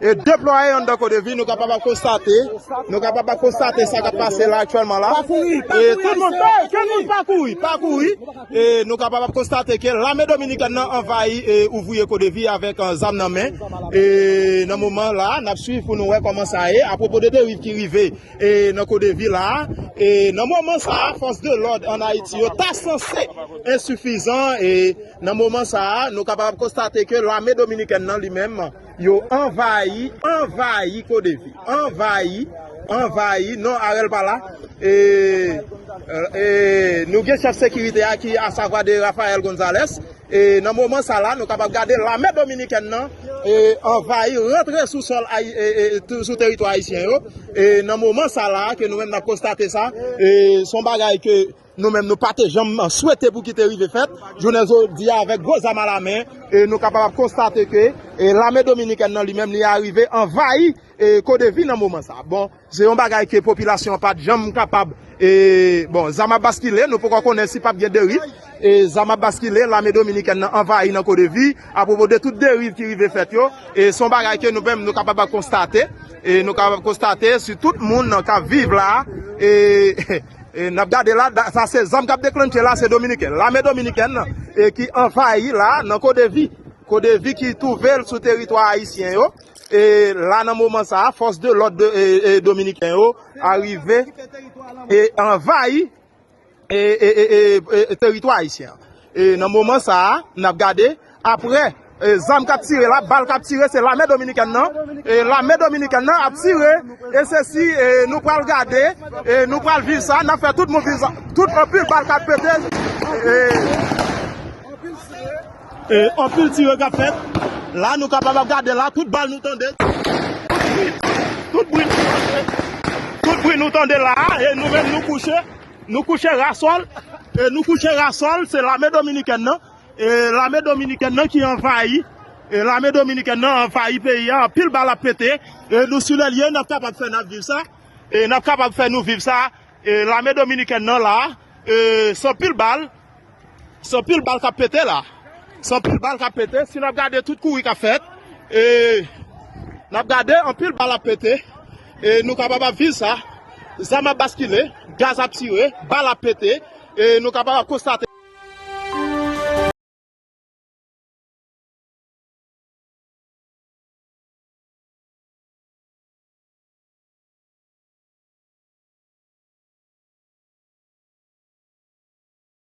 e deplwaye anndan CODEVI nou kapab ap konstate nou kapab ap konstate sa kap pase la aktyèlman la e tout moun tout moun pa kouri pa kouri e nou kapab ap konstate ke lame dominikèn nan anvayi e ouvriye CODEVI avèk zam nan men e nan moman la nap swiv pou nou wè kòman sa ye apropo de deriv ki rive e nan CODEVI la e nan moman sa fòs de lòd an Ayiti yo ta sanse ensifizan e nan moman sa nou kapab ap konstate ke lame dominikèn nan li menm. Yo anvayi, anvayi kodevi, anvayi, anvayi, non Arel pa la, ee, nou gen chèf sekirite a ki a savwa de Rafael Gonzalez, ee, nan moman sa la nou kapab gade lame dominikèn nan, ee, anvayi rantre sou sòl ayi, ee, sou teritwa ayisyen yo, ee, nan moman sa la ke nou menm nap konstate sa, ee, son bagay ke. Nou menm nou pa te janm swete pou ki te rive fèt, jounen jodi a avèk gwo zam alamen, nou kapab ap konstate ke lame dominikèn nan li menm li arive anvayi CODEVI nan moman sa. Bon, se yon bagay ke popilasyon an pa t janm kapab, bon, zam ap baskile, nou poko konnen si pap gen deriv, zam ap baskile, lame dominikèn nan anvayi nan CODEVI, apropo de tout deriv ki rive fèt yo, se yon bagay ke nou menm nou kapab ap konstate, nou kapab ap konstate si tout moun kap viv la, e. E nap gade la sa se zam kap deklannche la se dominiken lame dominiken nan e ki anvayi la nan kodevi kodevi ki touvel sou teritwa ayisyen yo e la nan moman sa a fòs de lòd e dominiken yo arive e anvayi e e e e teritwa ayisyen. E nan moman sa a, n ap gade, aprè zam k ap tire la, bal k ap tire, se lame dominikèn nan, e lame dominikèn nan ap tire, e se si nou pral gade, e nou pral viv sa, n ap fè tout mobilizasyon, tout anpil bal k ap pete, e anpil tire, e anpil tire k ap fèt, la nou kapab ap gade la, tout bal nou tande, tout bri, tout bri, tout bri nou tande la, e nou menm nou kouche. Nou kouche rasol e nou kouche rasol se lame dominikèn nan e lame dominikèn nan ki anvayi e lame dominikèn nan anvayi peyi ya anpil bal ap pete e nou sou lè lye nap kapab fè nap viv sa e nap kapab fè nou viv sa e lame dominikèn nan la e san pil bal Se anpil bal kap pete la. Se anpil bal kap pete. Si nap gade tout kouri kap fèt. E nap gade anpil bal ap pete. E nou kapab ap viv sa. Zam ap baskile. Gaz ap tire. Bal ap pete. E nou kapab ap konstate.